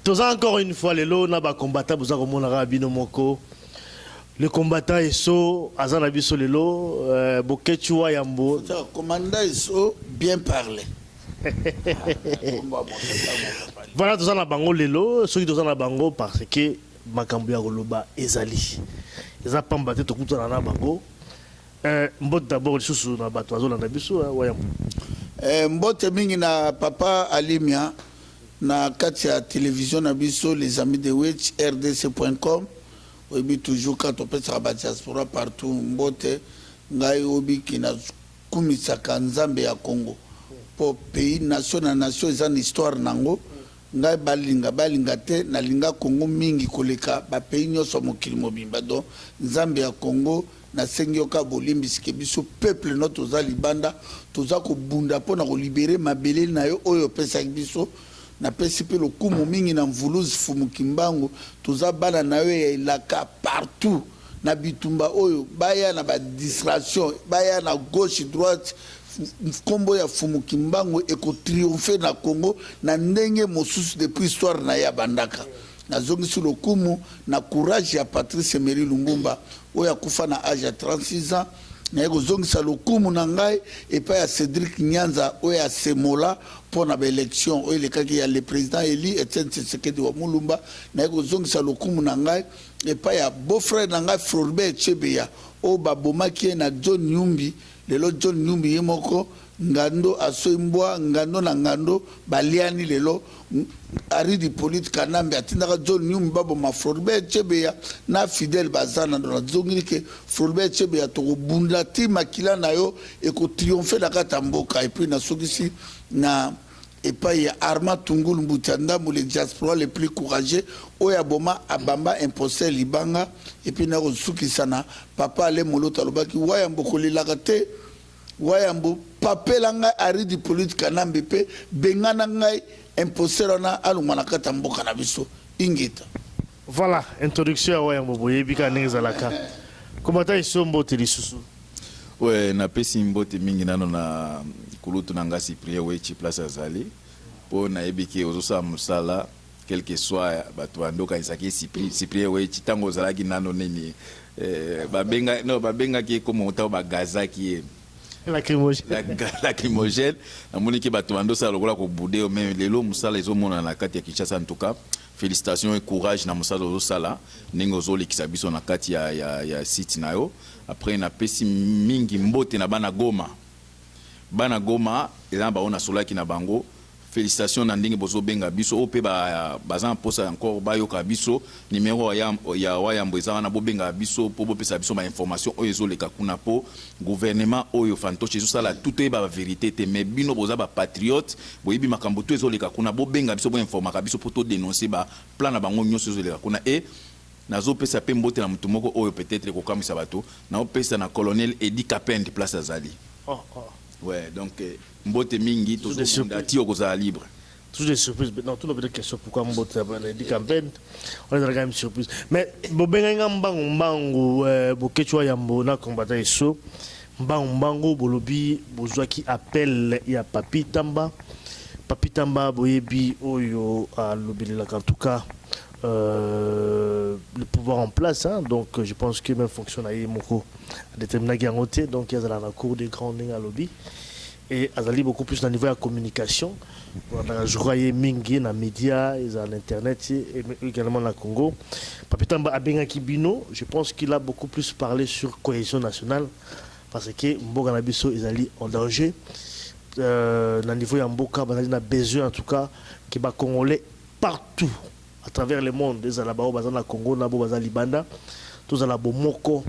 toza encore une fois lelo na ba combattant boza komona kaka bino moko le combattant eso aza na biso lelo euh, boketshu wa yambo commandant eso bien parle voilà toza na bango lelo soki toza na bango parce que makambo ya koloba ezali eza pamba te tokutana na bango Eh mbote d'abord lisusu na bato bazolanda biso eh, wayambo. Eh, mbote mingi na papa Alimia na kati ya television na biso les amis de witch rdc.com oyebi toujours quand topesaka ba diaspora partout mbote ngai obiki na kumisaka nzambe ya Congo po pays nation na nation eza na histoire nango Ngai balinga balinga te na linga Congo mingi koleka ba pays nionso ya mokili mobimba donc nzambe ya Congo na sengi yo kaka bolimbisi ke biso peuple no toza libanda toza ko bunda pona ko libere mabele nayo oyo opesaki biso na pesi pe lokumu mingi na Mvuluzi Fumu Kimbangu toza bana nayo ya elaka partout na bitumba oyo baya na ba distraction baya na gauche droite kombo ya fumu kimbangu eko triomphe na congo na ndenge mosusu depuis histoire na ye abandaka nazongisi lokumu na courage ya patrice emery lumbumba oyo akufa na age ya 36 ans naye kozongisa lokumu na ngai epai ya cedric nyanza oyo asemola mpo na baelection oyo elekaki ya le président eli etienne tshisekedi wa mulumba naye kozongisa lokumu na ngai epai ya beau frère na ngai Floribert Chebeya oyo babomaki ye na John Numbi, lelo John Numbi ye moko ngando asoi mbwa, ngando na ngando baliani lelo, Henri Hyppolite Kanambe atindaka John Numbi baboma Floribert Chebeya na Fidèle Bazana, donc nazongili ke Floribert Chebeya tokobunda ti makila na yo eko triompher na kati ya mboka, et puis nasukisi na. Epayi ya Armand Tungul Mbutia Ndambu le diaspora le plus courageux oyo aboma abamba imposteur libanga et puis nako sukisa na papa Alain Moloto alobaki wayambo kolelaka te wayambo papela ngai Henri Dipolyte Kanambe pe bengana ngai imposteur wana alongwa na kati ya mboka na biso ingeta. Voilà, introduction ya Wayambo boyebi kaka ndenge ezalaka. Combattant Esso mbote lisusu. Ouais, napesi mbote mingi nano na kulutu na nga Cyprien Wechi place azali mpo nayebi ke ozosala mosala quel que soit bato bando okanisaki Cyprien Wechi ntango ozalaki nano nini eh, babenga, no, babengaki ye komo ntango bagazaki ye lacrymogène namoni ke bato bando osala lokola kobude yo mais lelo mosala ezomonana na kati ya Kinshasa en tout cas Felicitations et courage na mosala ozo sala ndenge ozo lekisa biso na kati ya ya site na yo après na pesi mingi mbote na bana goma bana goma eza na bango na solaki na bango felicitations na ndenge bozo benga biso oyo pe ba baza na posa encore ba yoka biso numero ya ya wayambo eza wana bo benga biso po bo pesa biso ba information oyo ezo leka kuna po Gouvernement oyo fantoche ezo sala tout toyeba ba verite te mais bino boza ba patriote boyebi makambo tout ezo leka kuna bo benga biso bo informaka biso po to denonce ba plan na bango nioso ezo leka kuna et nazo pesa pe mbote na mutu moko oyo peut etre ekokamwisa batu nao pesa na colonel Eddy kapend place azali. Ohh ohh. Ouais donc mbote mingi tozo bunda ti okozala libre. Toujours des surprises. Non, tout le monde question pourquoi Mbote a dit campagne. On est dans la même surprise. Mais Bobenga Ngambango Mbango, euh, Bokechwa Yambo, na combattant Esso. Mbango Mbango, Bolobi, Bozwa qui appelle ya Papi Tamba. Papi Tamba, Boyebi, Oyo, à l'Obelilak. En tout cas, euh, le pouvoir en place. Hein, donc, je pense que même fonction à Yemoko a déterminé Gangote. Donc, il y a la cour des grands à lobby. Et azali beaucoup plus na niveau ya communication. Voilà, je crois ye mingi na media, eza na internet et également na Congo. Papitamba abengaki bino, je pense qu'il a beaucoup plus parlé sur cohésion nationale parce que mboka na biso ezali en danger. Euh, na niveau ya mboka bazali na besoin en tout cas que ba congolais partout à travers le monde ezala bao baza na Congo na bo baza libanda tozala bomoko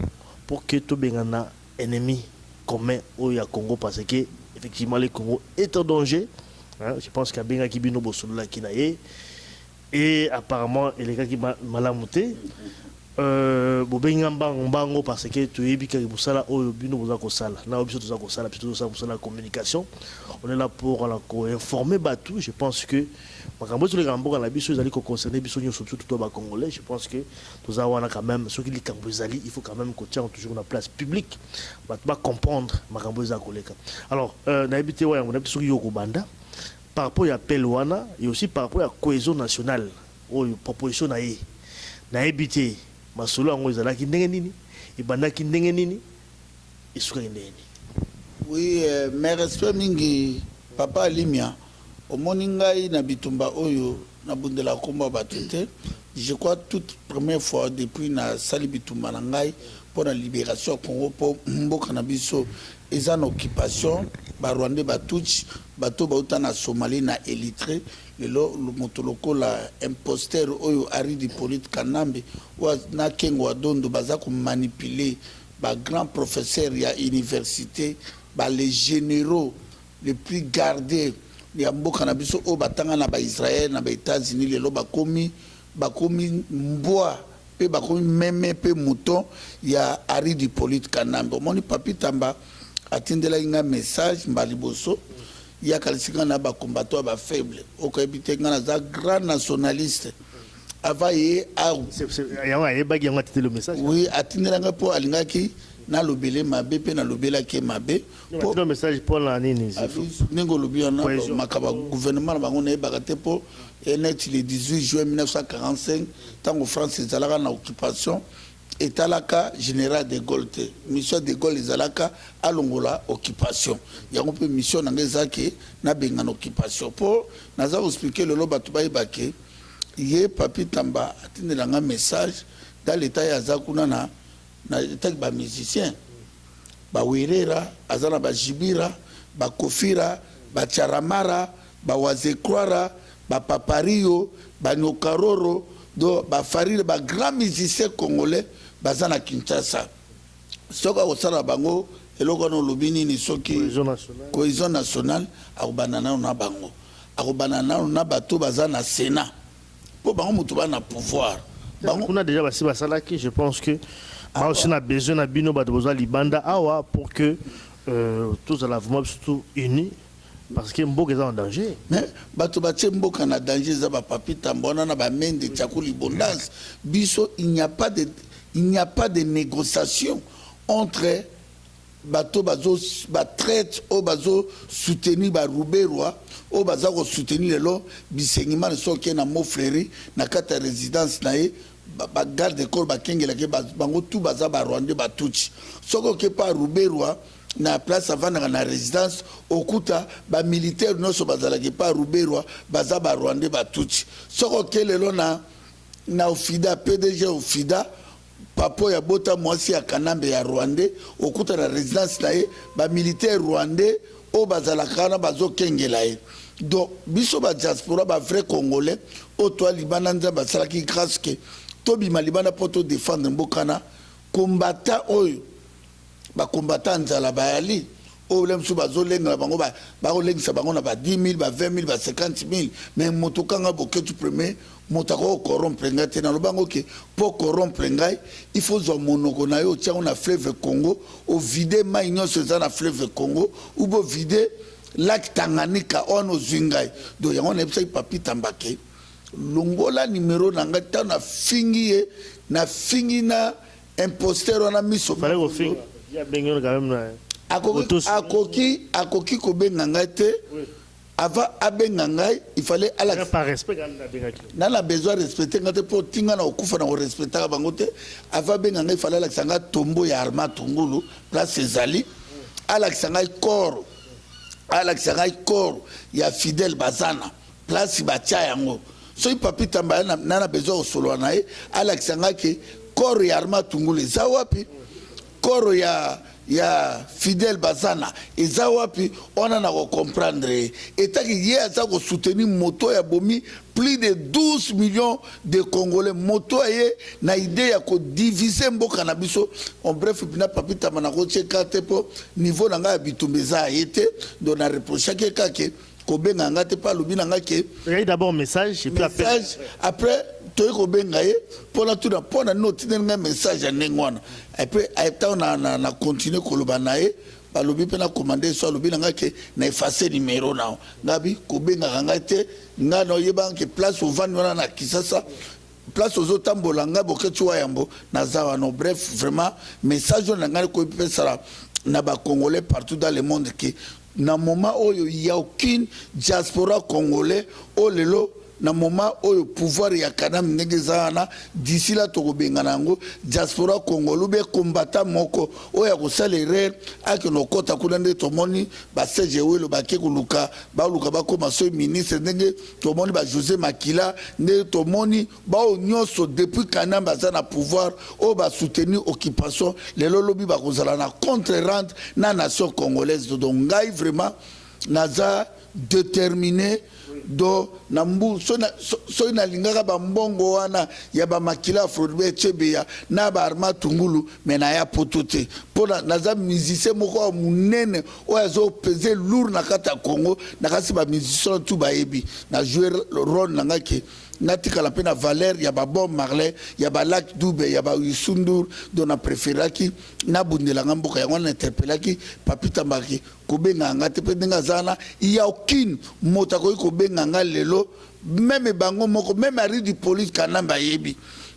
pour que tobengana ennemi commun oyo ya Congo parce que effectivement le Congo est en danger hein, je pense que abengaki bino bosololaki na ye et apparemment elekaki malamu te euh, bobengi nga mbango mbango parce que toyebi kaka mosala oyo bino boza kosala na biso toza kosala biso tozosala mosala ya communication on est là pour la koinformer bato je pense que makambo ezoleka na mboka na biso ezali koconcerne biso nyonso surtout to bacongolais je pense que Toza wana quand meme soki likambo ezali il faut quand meme kotia yango toujours na place publique bato ba comprendre makambo eza koleka alors euh, nayebi te wayango nayebi te soki yo okobanda par rapport ya appel wana et aussi par rapport ya cohesion nationale oyo proposition na ye nayebi te masolo yango ezalaki ndenge nini ebandaki ndenge nini esukaki ndenge nini Oui, euh, mes respects mingi, papa Alimia. Omoni ngai na bitumba oyo na bundelaka kombo ya batu te je crois tout première fois depuis na sali bitumba na ngai pona liberation ya Congo po mboka na biso eza na occupation ba rwandais ba tutshi batu oyo bawuta na Somalie na Elytre lelo mutu lokola imposteur oyo Arrid Hypolite kanambe oyo na Kengo wa Dondo baza ko manipuler ba grand professeur ya universite ba les generaux Les plus gardes ya mboka na biso oyo batanga na ba Israël na ba Etats Unis lelo bakomi bakomi mbwa pe bakomi meme pe mouton ya Arrid Hyppolite Kanambe omoni Papy Tamba atindelaki ngai message mbala liboso ye akanisi ngai na ba combattant ya ba faible okoyebi te ngai naza grand nationaliste avant ye a yango ayebaki yango atindeli yo message oui atindela ngai po alingaki nalobele mabe pe nalobelaki ye mabe Batino message mpo na nini Zefo? ndenge olobi wana Cohesion. makambo ya gouvernement na bango nayebaka te mpo e neti le 18 juin 1945 ntango france ezalaka na occupation etalaka general de gaulle te mission ya de gaulle ezalaka alongola occupation yango mpe mission na ngai eza ke nabengana occupation mpo naza koexplike lelo bato bayeba ke ye papi tamba atindela ngai message dans leta ye aza kuna na na etat ba musiciens ba werera aza na ba jibira ba kofira ba charamara ba wazekroira ba papario ba nyokaroro do ba farire ba grand musicien congolais baza na kinshasa soki akosala bango eloko wana olobi nini soki cohesion nationale akobanda nano na bango akobanda nano na bato baza na senat Po bango mutu ba na pouvoir. Bango kuna dejà basi basalaki je pense que ah, aussi na besoin na bino bato boza libanda awa pour que euh, tozala vraiment biso tout unis parce que mboka eza na danger mais bato batie mboka na danger eza bapapi tambo wana na bamende tiako libondance biso il n'y a pas de, il n'y a pas de négociation entre Bato bazo ba traitre oyo bazo soutenir ba ruberwa oyo baza ko soutenir lelo bisengimana soki oke na mont flery na kati ya residence na ye ba garde corps ba kengelaka ye bango tout baza ba rwandais ba tutshi soki oke pa ruberwa na place avandaka na residence okuta ba militaire nionso bazalaka epa ruberwa baza ba rwandais ba tutshi soki oke lelo na na ofida pdg ofida Papa oyo abota muasi ya kanambe ya rwandais okuta na residence na ye ba militaire rwandais oyo bazalaka wana bazo kengela ye donc biso ba diaspora ba vrai congolais oyo toa libanda nzambe asalaki grace que tobima libanda po to defendre mbokana combattant oyo Ba combattants ya nzala bayali oyo bla misusu bazo lenga na bango bako lengisa bango na ba 10.000 ba 20.000 ba 50.000 mais moto ka nga Boketshu premier moto akoki ko corrompre nga te naloba yango ke po corrompre ngai il faut ozua monoko nayo otia yango na fleuve Congo o vider mayi nionso eza na fleuve Congo ou bo vider lac Tanganyika wana ozui ngai donc yango na yebisaki Papy Tamba ke longola numero na ngai tango na fingi ye na fingi na Imposteur wana miso akoki kobenga ngai te avant abenga ngai il fallait alakisa na besoin respecte ngai te mpo tinga na kokufa na korespectaka bango te avant abenga ngai fallait alakisa ngai tombo ya arma tungulu place ezali alakisa ngai corps alakisa ngai corps ya fidèle bazana place ba tia yango soki papy tamba aya na na besoin ya kosolola na ye alakisa nga ke corps ya arma tungulu eza wapi corps ya ya fidèle bazana eza wapi wana na ko comprendre ye etaki ye aza ko soutenir moto ya bomi plus de 12 millions de congolais moto ya ye na idée ya ko diviser mboka na biso en bref na papi tamba na ko tie karte po niveau na ngai ya bitumba eza ye te donc na reprochaki ye kake kobenga nga te mpe alobi na nga ke eyai d'abord message et puis appel. message après toyei kobenga ye mpo natuna mpo na nini otindeli ngai message ya ndenge wana epe ntango na, na, na continue koloba na ye balobi mpe na commande so alobi na ngai ke na efface numero na yo ngabi kobengaka ngai te ngai na oyebaka ke place ovandi wana na kisasa place ozotambola ngai boketi wa yambo naza wana bref vraiment message oyo na ngai koyepesala na bacongolais partout dans le monde ke Na moment oyo il ya aucune diaspora congolais oyo lelo na moment oyo pouvoir ya kanambe ndenge eza wana d'ici là toko bengana yango diaspora congolais ou bien combattant moko oyo akosala erreur akende kokota kuna nde tomoni ba serge ewelo bake koluka baluka bakoma soyi ministre ndenge tomoni ba jose makila nde tomoni Baoyo nionso depuis kanambe aza na pouvoir oyo ba soutenir occupation lelo lobi bakozala na contre rende na nation congolaise dodo ngai vraiment naza determine do na mbu soki nalingaka ba mbongo wana ya ba makila ya frodbe chebeya na ba arma tungulu me naya poto te mpo naza musicien moko ya monene oyo azopese lour na kati ya congo na kasi ba musicien tu bayebi na joue role na ngai ke Nga tikala pe na valeur ya ba bob marley ya ba lac dube ya ba youssou ndour dont na preferaki na bundela nga mboka yango wana na interpelaki papy tambaka ke ko bengaka nga te pe ndenge aza wana il ya aucune moto akoki ko benga nga lelo meme bango moko meme arry du police kanambe ayebi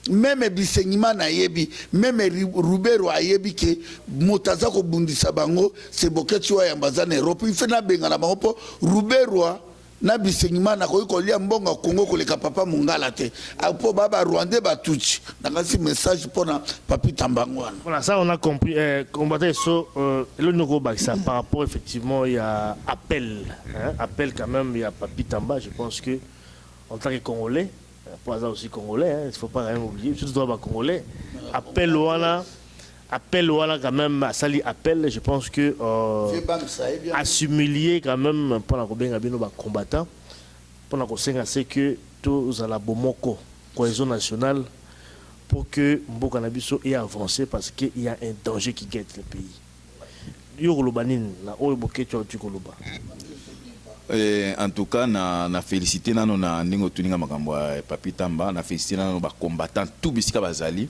meme bisengimana ayebi meme rubero ayebi ke moto aza kobundisa bango seboketsi oyo yamba aza na europe ife nabengana bango mpo ruberwa N'a Bisengimana nakoki kolia mbongo ya Congo koleka papa Mungala te apo ba ba Rwandais ba Tutsi nakanisi message pona Papi Tambanguana. Voilà ça on a compris eh, combattant so euh, elo noko bakisa par rapport effectivement ya appel hein, appel quand même ya Papi Tamba je pense que en tant que Congolais po aza aussi congolais hein, il faut pas rien oublier surtout toi ba congolais appel wana appel wana quand même asali appel je pense que euh, assimilier quand même pona kobenga bino ba combattants pona kosenga se que tozala bomoko cohésion nationale pour que mboka na biso e avancer parce qu'il y a un danger qui guette le pays Yo okoloba nini na oyo Boketshu awuti koloba? Eh en tout cas na na felicite nanu na ndenge otuni nga makambo ya Papy Tamba na felicite nanu ba combattants tout bisika bazali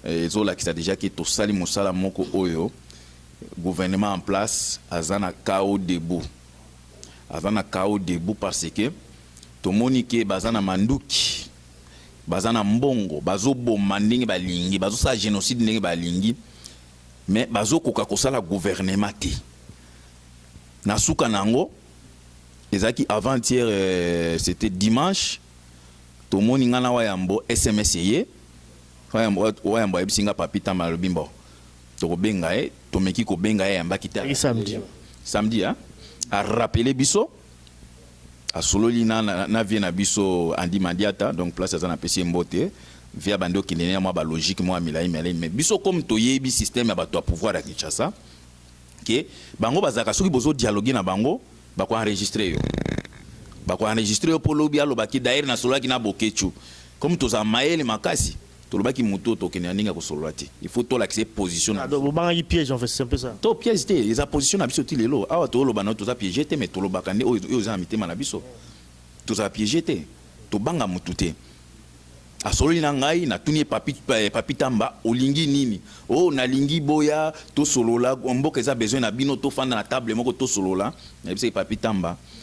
ezolakisa dejà que tosali mosala moko oyo gouvernement en place aza na cao debout aza na cao debout par ce que tomoni que baza na manduki baza na mbongo bazoboma ndenge balingi bazosala genocide ndenge balingi Mais bazo koka kosala gouvernement te. Na suka na yango ezalaki avant hier c'etait dimanche tomoni nga na wayambo sms eye wayambo ayebisi nga papy tamba alobi mbo toko benga ye tomeki kobenga ye ayambaki te samedi a rappeler biso Asololi na na vieux na biso Andy Mandiata donc place aza na pesi ye mbote. Vieux abandi kokende ne mwa ba logique mwa milayi milayi mais biso comme toyebi système ya batu ya pouvoir ya Kinshasa que bango bazalaka soki bozo dialoguer na bango bako enregistrer yo bako enregistrer yo po lobi aloba que d'ailleurs nasololaki na Boketshu comme tozala mayele makasi Tolobaki mutu oyo tokende na ndenge ya kosolola te il faut tolakisa ye position na biso. Ah donc bobangaki piège en fait c'est un peu ça. To piège te eza position na biso ti lelo awa toloba nayo toza piege te mais tolobaka nde oyo eza na mitema na biso tozala piege te tobanga mutu te asololi na ngai natuni ye papi papi tamba olingi nini oh nalingi boya tosolola mboka eza besoin na bino tofanda na table moko tosolola nayebisaki papi tamba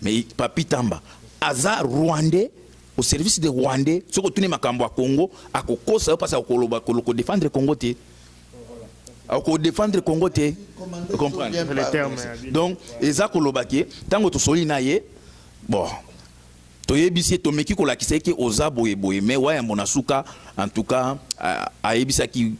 Mais Papy Tamba aza Rwandais au service des Rwandais. Soki otuni makambo ya Congo, akokosa yo pasi akoloba koloko defendre Congo te. Ako defendre Congo te. Vous comprenez? Le terme. Donc eza koloba ke tango tosoli na ye bon toyebisi ye tomeki kolakisa ye ke oza boye boye mais wayambo na suka en tout cas a- ayebisaki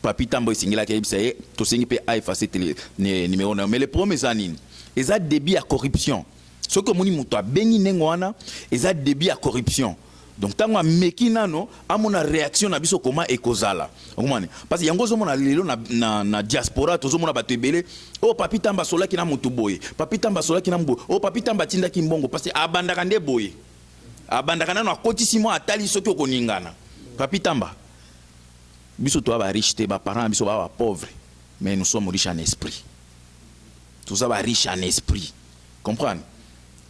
Papy Tamboy esengelaki ayebisa ye tosengi mpe a effacer tele ne- numero na yo mais le problème eza nini eza début ya corruption soki omoni moto abengi ndenge wana eza début ya corruption donc ntango ameki nano amona réaction na biso koma ekozala okomani parce que yango ozomona lelo na, na, na diaspora tozomona bato ebele oyo oh, papi tamba asolaki na moto boye papi tamba asolaki na moboye oyo oh, papi tamba atindaki mbongo parce que abandaka nde boye abandaka nano akotisi mwa atali soki okoningana papi tamba Biso toza ba riche te, ba parents na biso baza ba pauvres mais nous sommes riches en esprit. Toza ba riche en esprit. Comprendre?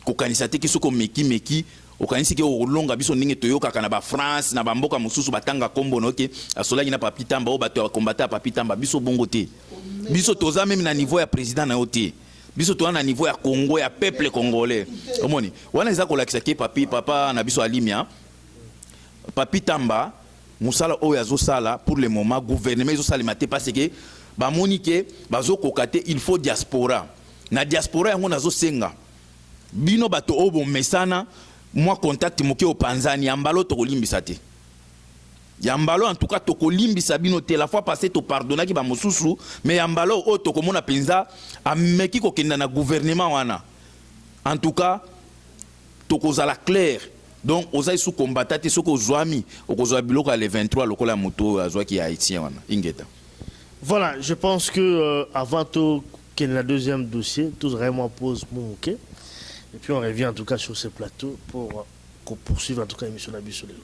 Kokanisa te ke soki omeki meki okanisi ke okolonga biso ndenge toyokaka na ba France na ba mboka mosusu batanga kombo na yo ke asolaki na Papy Tamba oyo bato ya combattant ya Papy Tamba biso bongo te. Biso toza meme na niveau ya president na yo te. Biso toza na niveau ya Congo ya peuple congolais. Omoni? Wana eza kolakisa ke Papy papa na biso Alimia Papy Tamba Musala oyo azo sala pour le moment gouvernement ezo salema te parce que ba moni que bazo koka te il faut diaspora na diaspora yango nazo senga bino bato oyo bo mesana mwa contact moke opanzani ya mbala oyo toko limbisa te ya mbala oyo en tout cas toko limbisa bino te la fois passée to pardonnaki ba mosusu mais ya mbala oyo oyo toko mona penza ameki kokenda na gouvernement wana en tout cas Tokozala clair donc oza lisusu combattant te soki ozuami okozua biloko ya le 23 lokola ya mutu oyo azuaki ya haitien wana ingeta. Voilà je pense que euh, avant to kende na deuxième dossier to zala mwa pause mwa moke et puis on revient en tout cas sur ce plateau pour ko poursuivre en tout cas emission na biso lelo.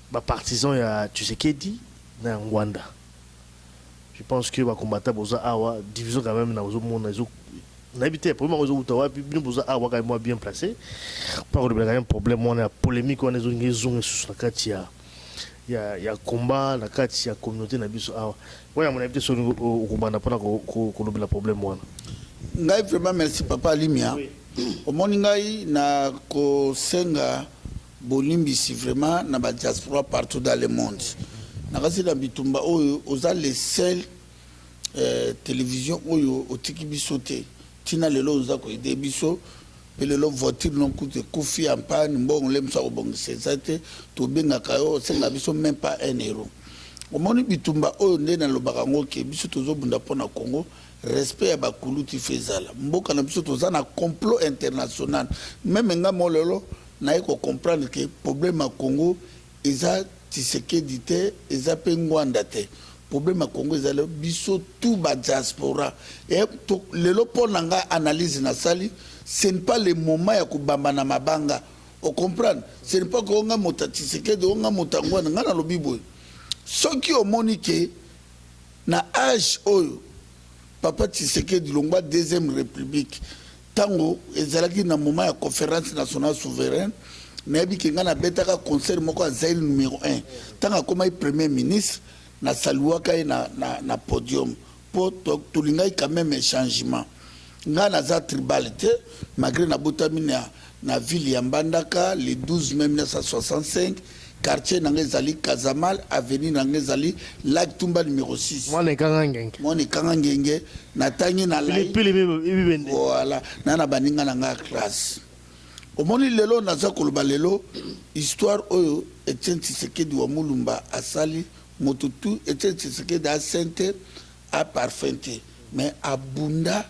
Ba partisans ya Tshisekedi na ya Ngwanda je pense que ba combattants boza awa division quand meme nazo mona ezo nayebi te problème yango ezo wuta wapi bino boza awa kaka mwa bien place mpo ya kolobela quand meme problème wana ya polemique wana ezongi ezonga esusu na kati ya ya ya combat na kati ya communauté na biso awa wana yango nayebi te soki okobanda mpona kolobela problème wana. Ngai vraiment merci papa Alimia omoni ngai na kosenga Bolimbisi vraiment na ba diaspora partout dans le monde nakasi na bitumba oyo oza le seul television oyo otiki biso te tina lelo oza ko aide biso pe lelo voiture no kutu ekufi en panne mbongo le mosala kobongisa eza te tobengaka yo osenga biso meme pas un euro omoni bitumba oyo nde nalobaka ngo ke biso tozo bunda pona Congo respect ya bakulutu il faut ezala mboka na biso toza na complot international meme nga mo lelo Naye ko comprendre que problème ya Congo eza Tshisekedi te, eza pe Ngwanda te. Problème ya Congo eza biso tout ba diaspora. Et lelo po na nga analyse na sali, ce n'est pas le moment ya ko bamba na mabanga. O comprendre? Ce n'est pas que o nga moto ya Tshisekedi, o nga moto ya Ngwanda. Nga na lobi boye, soki o moni que na age oyo Papa Tshisekedi longwa deuxième republique, Tango ezalaki na moment ya conference nationale souveraine, nayebi ke ngai nabetaka concert moko ya Zaïre numero un. Tango akomaki Premier ministre, na saluaka ye na, na, na podium. Po to, tolingaki quand meme changement. Ngai naza tribal te, malgre nabotami na, na ville ya Mbandaka le 12 mai 1965. Quartier na nga ezali Casamal, avenue na nga ezali Lac Tumba numero 6. Mwana ekanga ngenge. Mwana ekanga ngenge, natangi na lai. Pili pili bibende. Voilà, na na baninga na nga classe. Omoni lelo naza koloba lelo histoire oyo Etienne Tshisekedi wa Mulumba asali moto tu Etienne Tshisekedi asente a parfum te mais abunda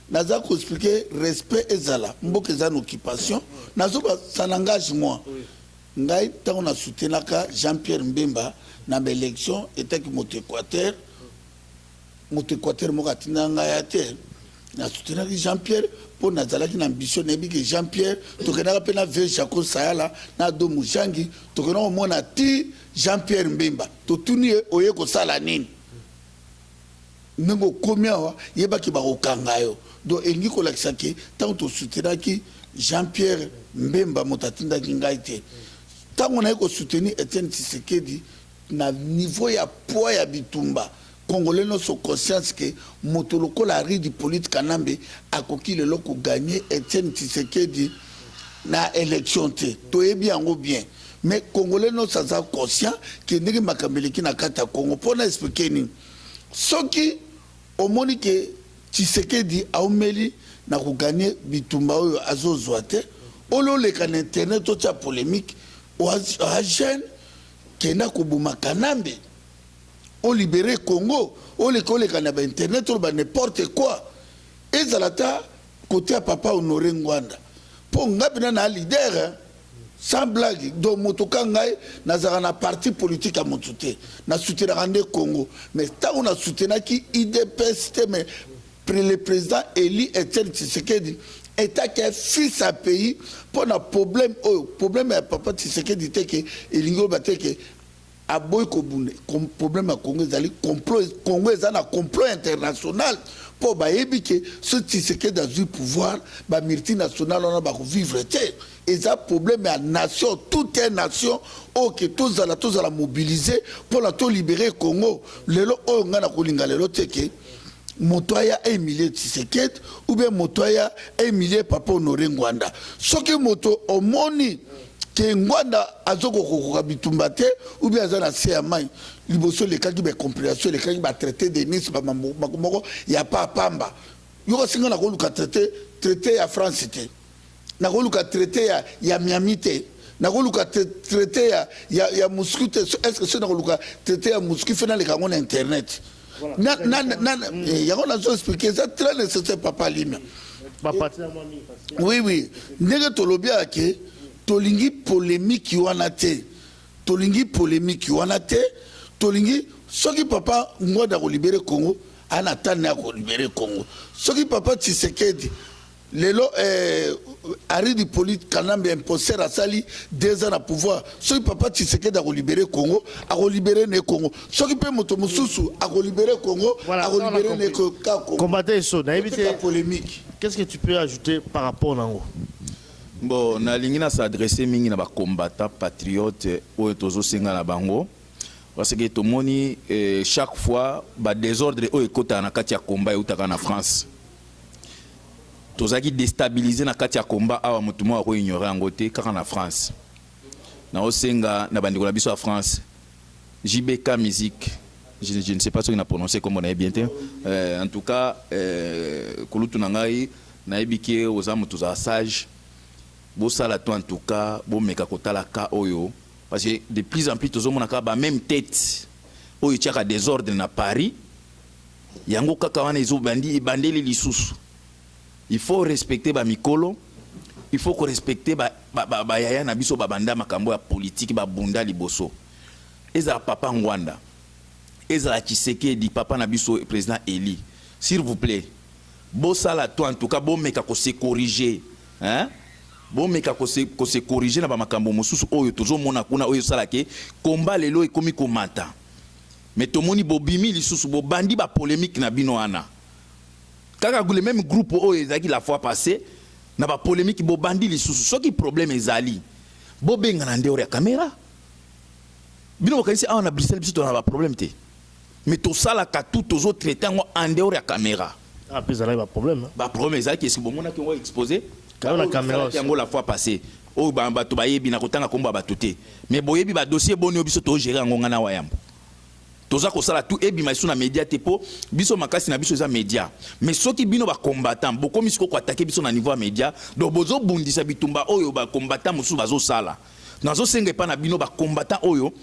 Naza ko explique respect ezala mboka eza na occupation nazo ba ça n'engage moi ngai tango na soutenaka Jean Pierre Mbemba na ba election etaki moto Equateur moto Equateur moko atinda ngai ya te na soutenaki Jean Pierre mpo nazalaki na ambition nayebi ke Jean Pierre tokendaka mpe na vieux Jaco Sayala na Do Mujangi tokenda komona ti Jean Pierre Mbemba totuni ye oye kosala nini Ndenge okomi awa yeba ke bako kanga yo donc elingi kolakisa ke tango to soutenaki Jean Pierre Mbemba moto atindaki ngai te tango naye ko soutenir Etienne Tshisekedi na niveau ya poids ya bitumba congolais nionso conscience ke moto lokola Henri Hyppolite Kanambe akoki lelo ko gagner Etienne Tshisekedi na election te toyebi yango bien. Mais congolais nionso aza conscient que ndenge makambo eleki na kati ya Congo mpo na expliquer nini soki omoni ke Tshisekedi aumeli na ko gagner bitumba oyo azozwa te oyo oleka na internet otia polemique oa jeune kenda koboma kanambe o libere congo oleka oleka na ba internet oloba n'importe quoi ezala ata kote ya papa honore ngwanda mpo nga mpena na leader Sans blague donc moto ka ngai nazalaka na parti politique ya moto te na soutenaka nde Congo mais tango na soutenaki udps te mais le président Eli Etienne Tshisekedi etat ke fils ya pays mpo na problème oyo problème ya papa Tshisekedi te ke elingi oloba te ke Aboyi kobunda problème ya Congo ezali complot Congo eza na complot international po bayebi ke soki Tshisekedi azui pouvoir ba multinationale wana bako vivre te eza problème ya nation tout un nation oyo ke tozala tozala mobilise pona to libere Congo lelo oyo ngai nakolinga lelo te ke moto aya emilie Tshisekedi ou bien moto aya emilie Papa Honore Ngwanda soki moto omoni que Ngwanda azo kokoka bitumba te ou bien aza na se ya mai liboso elekaki ba comprehension elekaki ba traité de Nice ba mambo moko ya pa pamba yoka singa na koluka traité traité ya France te na koluka traité ya ya Miami te na koluka traité ya ya, ya Moscou te est-ce que c'est na koluka traité ya Moscou fena leka ngo na internet na na na mm. eh, yango nazo expliquer eza très nécessaire papa lina oui oui ndenge tolobi ake tolingi polémique wana te tolingi polémique wana te tolingi soki papa ngwada kolibere congo ana tani akolibere congo soki papa tshisekedi Lelo eh, Henri Hippolyte Kanambe imposter asali deux ans na pouvoir. Soki papa Tshisekedi akolibere Congo, akolibere ne Congo. Soki pe moto mosusu akolibere Congo, Voilà, on a akolibere ne compris. ko- ka Congo. Combattant Esso, nayebi te. Tika polemique. Qu'est-ce que tu peux ajouter par rapport nango? bon nalingi na s'adresse mingi na bacombattant patriote oyo tozosenga na bango parce que tomoni eh, chaque fois badésordre oyo ekotaka na kati ya combat eutaka na france Tozalaki destabiliser na kati ya combat awa mutu moko ako ignorer yango te kaka na France. Nazo senga na ba ndeko na biso ya France JB K musique je, je ne sais pas soki na prononcer kombo na ye bien te. Euh, en tout cas euh, kulutu na ngai nayebi ke oza mutu za sage. Bosala to en tout cas bomeka kotala ka oyo parce que de plus en plus tozomona kaka ba meme tete oyo etiaka desordre na Paris. Yango kaka wana ezo bandi ebandeli lisusu il faut respecter ba mikolo il faut ko respecter ba, ba, ba, ba yaya na biso babanda makambo ya politique babunda liboso ezala papa Ngwanda ezala Tshisekedi papa na biso president Eli s'il vous plaît bosala to en tout cas bomeka ko se corriger hein bomeka ko se, ko se corriger na ba makambo mosusu oyo tozomona kuna oyo esalake komba lelo ekomi komata Mais tomoni bobimi lisusu bobandi ba polemique na bino wana kaka le meme groupe oyo ezalaki la fois passe na ba polemique bobandi lisusu soki problème ezali bobengana en dehors ya camera bino bokanisi awa na Bruxelles biso tozalaka na ba problème te mais tosalaka tout tozo traite yango en dehors ya camera. Ah, puis ezalaki ba problème. Hein. Ba problème ezalaki est-ce que bomonaki yango exposé? Kayo na caméra. Yango la fois passée. Oyo ba bato bayebi na kotanga kombo ya bato te. Mais boyebi ba dossier boni oyo biso to gérer yango ngana wa yambo. Toza kosala tout ebima isu na média te po biso makasi na biso eza média. Mais soki bino ba combattants bokomi siko ko attaquer biso na niveau ya média, donc bozo bundisa bitumba oyo ba combattants mosusu bazo sala. Nazo senga epa na bino ba combattants oyo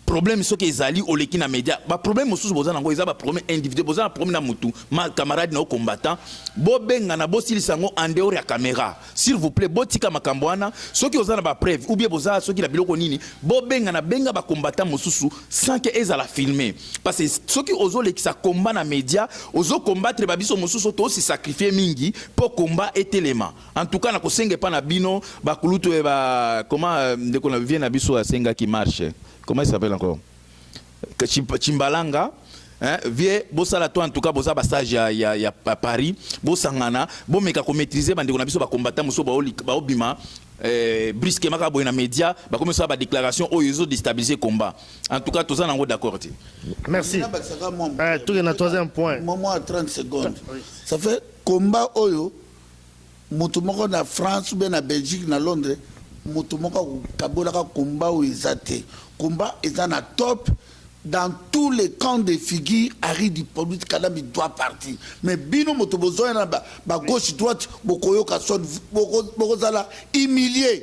Problème soki ezali oleki na media ba problème mosusu boza nango eza ba problème individuel boza na problème na mutu ma camarade na combattant bobengana bosilisa yango en dehors ya camera s'il vous plaît botika makambo wana soki oza na ba preuve ou bien boza soki na biloko nini bobengana benga ba combattant mosusu sans que ezala filme parce que soki ozolekisa combat na media ozo combattre ba biso mosusu tosi sacrifier mingi mpo combat etelema En tout cas na kosenga epa na bino ba kulutu et ba comment euh, ndeko na vie na biso asengaki marche comment il s'appelle encore Chimbalanga Hein, vie bosala to en tout cas boza ba sage ya, ya, ya Paris bosangana bomeka ko maîtriser bandeko na biso ba combattant mosusu baobima eh, brusquement kaka boye na média bakomi kosala ba déclaration oyo ezo déstabiliser combat en tout cas toza nango d'accord te merci eh, tokenda troisième point momo 30 secondes ça fait combat oyo mutu moko na France ou bien na Belgique na Londres mutu moko ako kabolaka combat oyo eza te combat eza na top dans tout le camp de figure Harry Dipolite Kanambe doit partir mais bino moto bozoya na ba gauche droite bokoyoka son boko zala humilie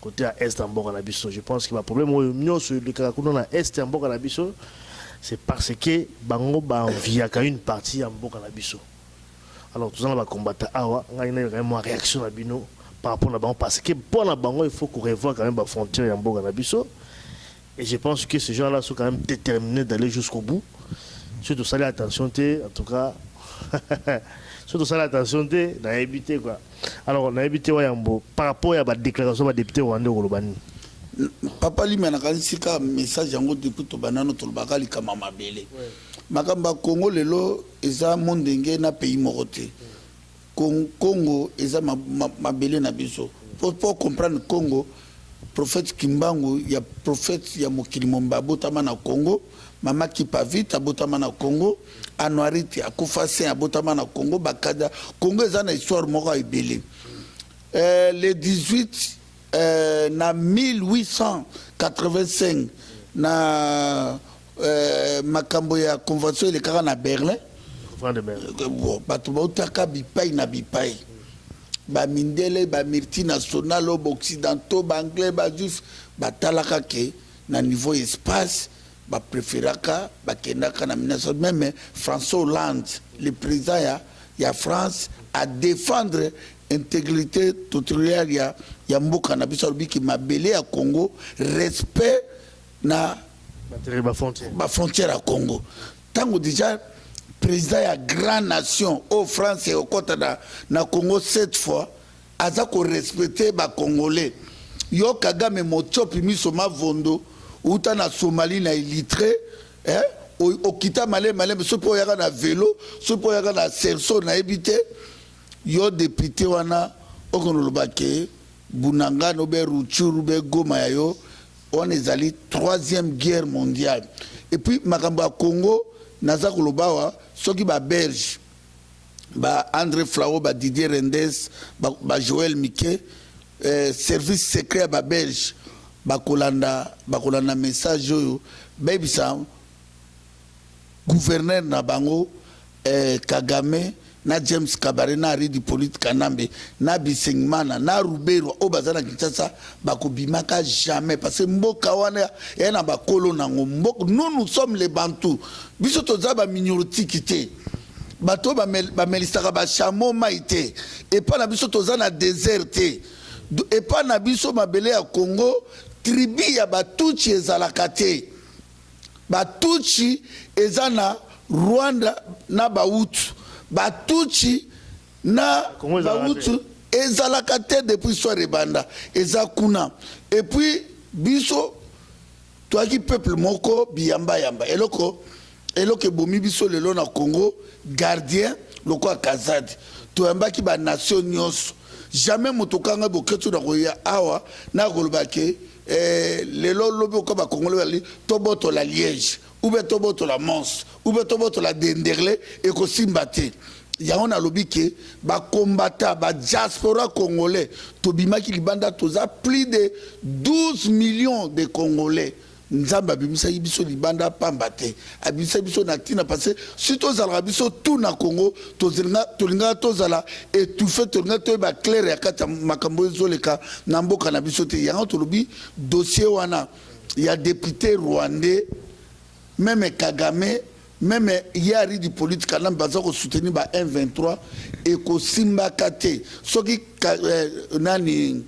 cote ya est ya mboka na biso je pense que ba problème oyo nionso elekaka kuna na est ya mboka na biso c'est parce que bango ba enviaka une partie ya mboka na biso alors toza na ba combattants awa ngai nayo quand même mwa réaction na bino par rapport na bango parce que mpo na bango il faut ko revoir quand même ba frontières ya mboka na biso et je pense que ces gens là sont quand même déterminés d'aller jusqu'au bout soki tosali attention te en tout cas soki tosali attention te nayebi te quoi Alors nayebi te wayambo par rapport ya ba declaration ba depute rwandais okoloba nini? Papa Lima nakanisi ka message yango depuis tobanano tolobaka likama mabele. Makambo ya Congo lelo eza mondenge na pays moko te. Congo eza mabele na biso. Pour, pour comprendre Congo, prophète Kimbangu ya prophète ya mokili momba abotama na Congo, mama Kipavit abotama na Congo. Anuarite akufa saint abotama na Congo bakada Congo eza na histoire moko ya ebele euh, le 18 euh, na 1885 na euh, makambo ya convention elekaka na Berlin euh, bato bautaka bipai na bipai bamindele bamultinationale occidentaux baanglais bajuif batalaka ke na niveau espace ba preferaka ba kendaka na Minnesota meme François Hollande le president ya ya France a defendre integrite territoriale ya ya mboka na biso alobi ki mabele ya Congo respect na ba frontière ya Congo tango dejà president ya grand nation oyo France ekota na na Congo cette fois Aza ko respecter ba congolais yo kagame motiopi miso mavondo uta na Somalie na illitre eh? okita malem malem soki mpo oyaka na velo soki mpo oyaka na serso nayebi te yo depute wana okonoloba ke bunangano be ruchuru be goma ya yo wana ezali troisième guerre mondiale epuis makambo ya congo naza koloba awa soki baberge Ba Andre Flao, ba Didier Rendes, ba, ba Joel Mike, eh, service secret ya ba Belge bakolanda bakolanda message oyo bayebisa gouverneur na bango eh, Kagame na James Kabare na Henri Hippolyte Kanambe na Bisengimana na Ruberwa oyo baza na Kinshasa bakobimaka jamais parce que mboka wana ya na bakolo nango mboka nous nous sommes les Bantous biso toza ba miniotiki te Bato oyo bamelisaka bashamo mai te. Epai na biso toza na desert te. Epai na biso mabele ya Congo, tribu ya Batutshi ezalaka te. Batutshi eza na Rwanda na Bahutu. Batutshi na Bahutu ezalaka te depuis histoire ebanda. Eza kuna. Et puis biso. Toyaki peuple moko biyamba yamba eloko eloko ebomi biso lelo na Congo gardien lokola kazadi toyambaki ba nation nioso jamais moto kanga boketshu na koya awa na koloba ke eh, lelo lobi oka ba congolais bali tobotola liege ou bien tobotola mons ou bien tobotola denderle ekosimba te yango nalobi ke ba combattant ba diaspora congolais tobimaki libanda toza plus de 12 millions de congolais nzambe abimisaki biso libanda pamba te abimisaki biso na ntina parce si tozalaka biso tu na congo tolingaka tozala étouffe tolingaka toyeba claire ya kati ya makambo oyo ezoleka na mboka na biso te yango tolobi dossier wana ya depute rwandais Meme kagame meme ye ari di polite kanambe baza ko soutenir ba M23 ekosimbaka te soki nani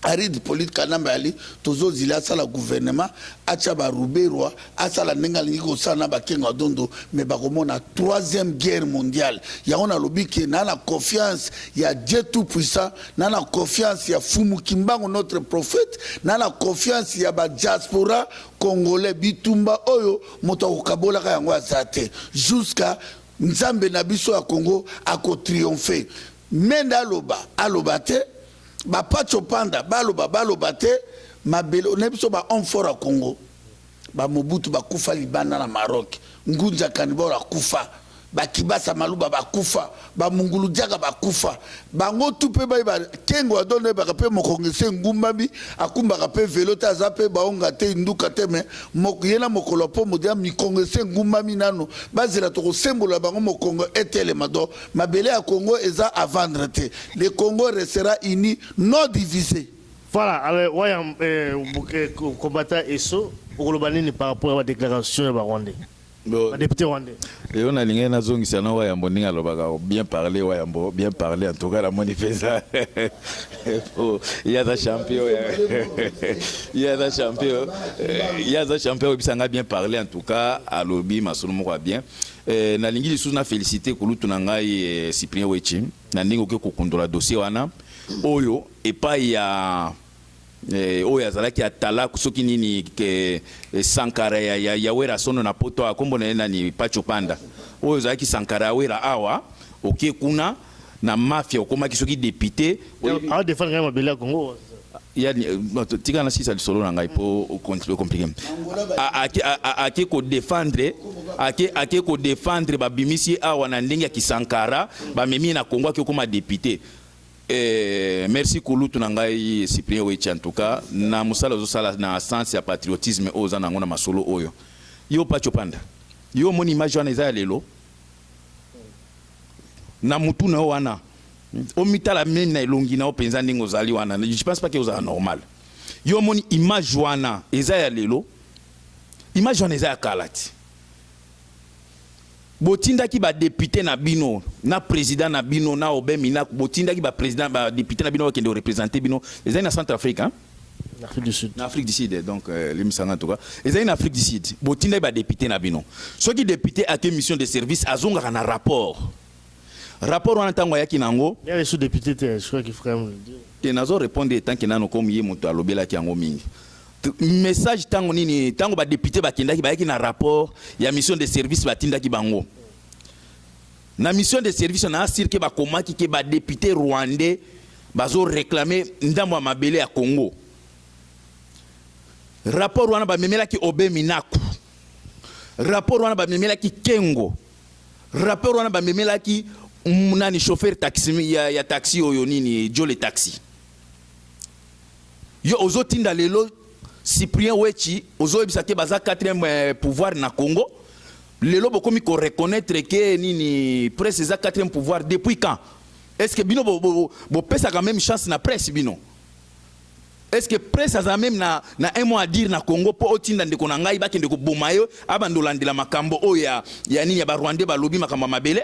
ari di polite kanambe ali tozo zila asala gouvernement atia ba ruberwa asala ndenge alingi kosala na ba kengo adondo mais bakomona troisième guerre mondiale yango nalobi ke na na confiance ya Dieu tout puissant na na confiance ya fumu kimbangu notre prophète na na confiance ya ba diaspora Congolais bitumba oyo moto akokabolaka yango aza te jusqu'à nzambe na biso ya Congo ako triomphe mende aloba aloba te ba patsho panda baloba baloba te mabele na biso ba homme fort ya Congo ba mobutu bakufa libanda na Maroc ngunza kanibor akufa Ba kibasa maluba ba kufa, ba mungulu jaga ba kufa, bango tout pe bayeba kengo ya dondo ayebaka pe mokonge se ngumbami akumbaka pe velo te aza pe baonga te induka te mais mok ye na mokolo ya pomo deja mikonge se ngumbami nanu bazela toko sembolola bango mokongo etelema donc mabele ya kongo eza a vendre te le kongo restera uni non divise. Voilà alors waya eh, combattant Esso okoloba nini par rapport ya ba declaration ya ba rwandais? ba depute rwandais lelo nalingaki nazongisa na wayambo ndenge alobaka bien parle wayambo bien parle en tout cas namoni mpenza ye aza champion ye aza champion ye aza champion oyebisa ngai bien parle en tout cas alobi masolo moko ya bien eh, nalingi lisusu na félicité kulutu na ngai eh, cyprien wechi na ndenge oke kokundola dossier wana oyo epai ya Eh, oyo azalaki atalaku soki nini ke eh, sankara ya, ya, ya wera sono na poto awa kombo na ye nani pacho panda oyo ozalaki sankara ya wera awa oke kuna na mafia okomaki soki depute awa defendre ngai mabele ya kongo ya tika na sisa lisolo na ngai mpo okomplike ake kodefendre ake ake kodefendre babimisi awa na ndenge ya kisankara bamemi ye na kongo ake okoma depute Eeh merci kulutu na ngai Cyprien Wetshi en tout cas na musala ozo sala na sens ya patriotisme oyo oza na yango na masolo oyo yo Patsho Panda yo omoni image wana eza ya lelo? na mutu na yo wana omitala meme na elongi na yo penza ndenge ozali wana je pense pas que ozala normal yo omoni image wana eza ya lelo? image wana eza ya kala ti. Botindaki ba deputes na bino na president na bino na Aubin Minaku, botindaki ba president ba deputes na bino bakende ko representer bino. Ezali na Centrafrique hein? Na Afrique du Sud. Na Afrique du Sud donc euh, limbisa nga en tout cas. Ezali na Afrique du Sud. Botindaki ba deputes na bino. Soki depute ake mission de service azongaka na rapport. Rapport wana ntango ayaki na yango. Il y a les sous-députés, je crois que frère. Te nazo répondre tant que nano comme ye moto alobelaki yango mingi. Message tango nini? Tango ba depute bakendaki bayaki na rapport ya mission de service batindaki bango na mission de service na asir ke bakomaki ke ba depute rwandais bazo reklame ndambo ya mabele ya Congo. Rapport wana bamemelaki Obe Minaku, rapport wana bamemelaki Kengo, rapport wana bamemelaki nani chauffeur taxi ya, ya taxi oyo nini Jole taxi Yo ozo tinda lelo Cyprien Wetshi ozo yebisa ke baza quatrième eh, pouvoir na Congo. Lelo bokomi ko reconnaître ke nini presse eza quatrième pouvoir depuis quand? Est-ce que bino bo, bo, bo pesa quand même chance na presse bino? Est-ce que presse aza même na, na un mot à dire na Congo po otinda ndeko na ngai bakende koboma yo abandolandela makambo oyo ya, ya nini ya ba Rwandais balobi makambo ya mabele?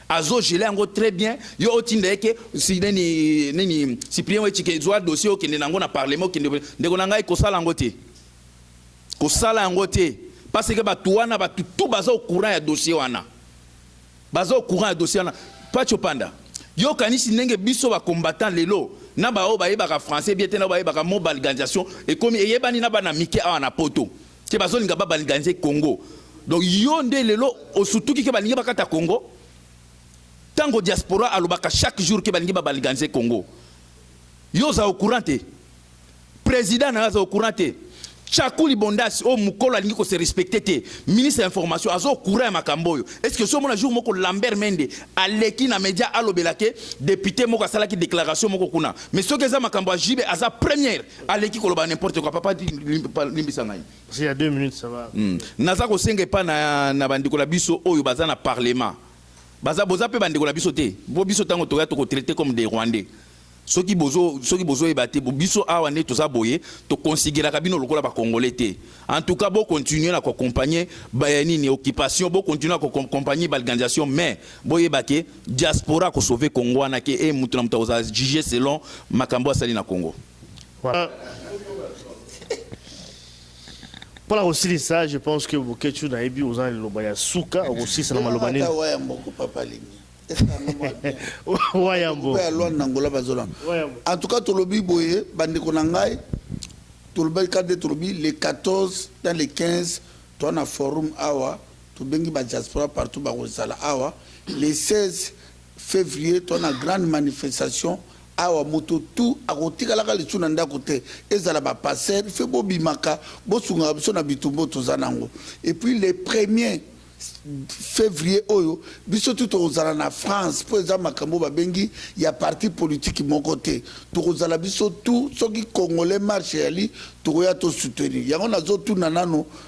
Azo geler yango très bien, yo otinda ye ke si nini nini Cyprien Wetshi ke zwa dossier okende na yango na parlement okende ndeko na ngai kosala yango te. Kosala yango te parce que batu wana batu tout baza au courant ya dossier wana. Baza au courant ya dossier wana. Pacho Panda, yo kanisi ndenge biso ba combattants lelo na ba oyo bayebaka français bien te na oyo bayebaka mobalganisation ekomi eyebani na bana mike awa na poto. Te bazolinga ba balganiser Congo donc yo nde lelo osutuki ke balingi bakata Congo tango diaspora alobaka chaque jour ke balingi ba balganiser Congo yo oza au courant te president nayo aza au courant te Tshakuli Bondasi oyo mukolo alingi ko se respecter te ministre ya information aza au courant ya makambo oyo est ce que osi omona jour moko Lambert Mende aleki na media alobela ke depute moko asalaki declaration moko kuna mais soki eza makambo ya JB aza première Aleki koloba n'importe quoi papa dit limbisa ngai. Parce qu'il y a deux minutes ça va. Hmm. Naza kosenga epa na, na bandeko na biso oyo baza na parlement baza boza mpe bandeko na biso te bo biso ntango toya tokotraite comme des rwandais soki bozo soki bozoyeba te biso awa nde toza boye toconsideraka bino lokola bacongolais te en tout cas bocontinue na koaccompagne nini occupation bocontinue na koaccompagne balganisation mais boyeba ke Diaspora ako sauver Congo wana ke e mutu na mutu akozala juge selon makambo asali na Congo. Voilà. Pour la Rossini, ça, je pense que Boketchou Naebi, aux ans, le Baya Souka, aussi, ça m'a lobané. Wayambo. En tout cas, Tolobi Boye, Bandeko Nangai, Tolobi Kade Tolobi, les 14 dans les 15, toi, on a forum Awa. Tobengi ba diaspora partout bakozala awa le 16 fevrier toza na grande manifestation awa moto tout akotikalaka lisusu na ndaku te ezala ba pasteur fe bobimaka bosungaka biso na bitumba oyo toza nango et puis le premier fevrier oyo biso tout tokozala na France po eza makambo babengi ya parti politique moko te tokozala biso tout soki congolais marche eyali tokoya to soutenir yango nazotuna nano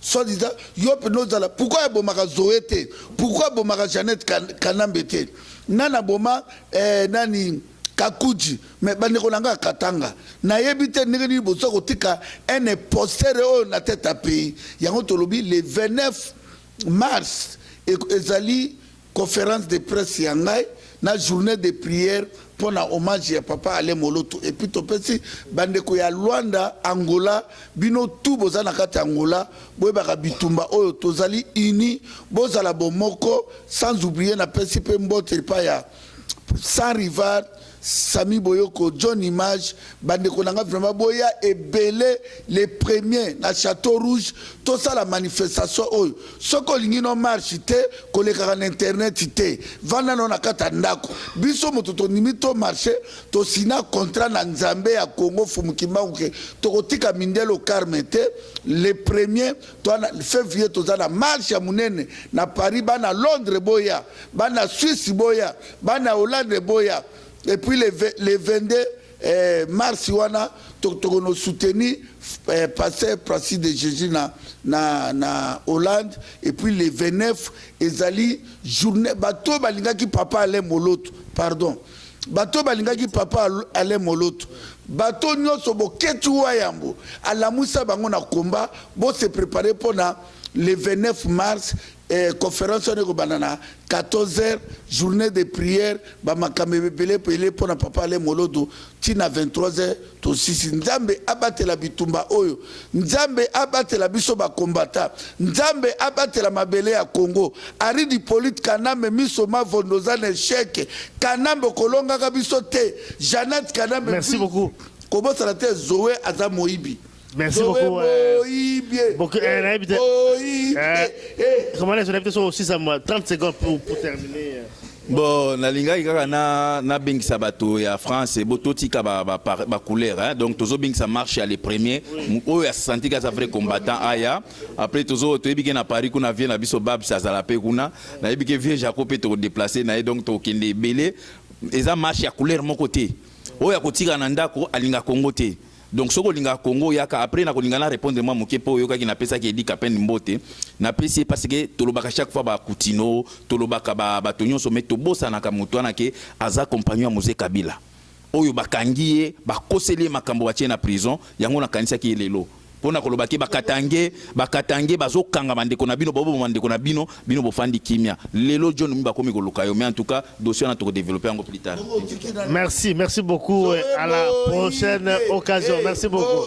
Soit disant yo pena ozala pourquoi abomaka Zoe te pourquoi abomaka Jeannette kanambe te nani aboma eh, nani kakuji mais bandeko na ngai katanga nayebi te ndenge nini boza kotika un imposteur oyo na tete ya pays yango tolobi le 29 mars ezali Conference de presse ya ngai na journee de prière mpo na hommage ya papa Alain Moloto epuis topesi bandeko ya Luanda, Angola, bino tout boza na kati ya Angola boyebaka bitumba oyo tozali unis bozala bomoko sans oublier napesi mpe mbote epai ya sans rival Samy Boyoko John Image ba ndeko na nga vraiment boya ebele le premier na chateau rouge tosala manifestation oyo soki olingi no marche te kolekaka na internet te vanda no na kati ya ndako biso moto tondimi to marche tosina contrat na nzambe ya Congo Fumu Kimbangu ke tokotika mindelo carme te le premier to na fevrier toza na marche ya munene na Paris bana Londres boya bana Suisse boya Bana Hollande boya et puis le 22 mars wana tokono soutenir Pasteur Francis de Jesus na Hollande et puis le 29 ezali journee bato oyo balingaki Papa Alain Moloto pardon bato oyo balingaki Papa Alain Moloto bato nionso Boketshu Wayambo alamuisa bango na combat bo se preparer pona le 29 mars Conference wana ekobanda na 14 heures, journee de prière, ba makambo ebele pele pona papa Alain Moloto ti na 23 heures tosisi. Nzambe abatela bitumba oyo, Nzambe abatela biso ba combattants, Nzambe abatela mabele ya Congo. Arrid Hyppolite Kanambe miso mavondo oza na echec, Kanambe okolongaka biso te, Jeannette Kanambe Merci puis beaucoup. kobosana te Zoe aza moyibi. Merci Zoe beaucoup. euh, Boyibie. Boke- eh, nayebi te. Boyibie. Eh. Eh. Comment les invités sont aussi à moi 30 secondes pour, pour terminer. euh. bon nalingaki kaka na- nabengisa bato ya france bo totika ba- ba- par- bacouleur hein. donc tozobengisa marche ya le premier Mu- oyo asantika aza vrai combattant aya après tozo toyebi ke na paris kuna vie na biso babs azala mpe kuna nayebi ke vie jaco mpe tokodeplace na ye donc tokokende ebele eza marche ya couleur moko te oyo akotika na ndako alinga kongo te Donc soki olingaka Congo yaka après na kolinga na repondre mwa moke mpo oyokaki napesaki Eddy Kapend mbote napesi ye parce que tolobaka chaque fois ba Kutino tolobaka ba bato nyonso mais tobosanaka moto wana ke aza compagnon ya Mzee Kabila oyo bakangi ye bakoseli ye makambo batie ye na prison yango nakanisaki ye lelo mpo na koloba ke ba Katangais ba Katangais bazokanga bandeko na bino boboma bandeko na bino Bino bo fandi kimia lelo John Numbi bakomi ko luka yo mais en tout cas dossier wana toko developper yango plus tard. Merci, merci beaucoup à la prochaine occasion merci beaucoup.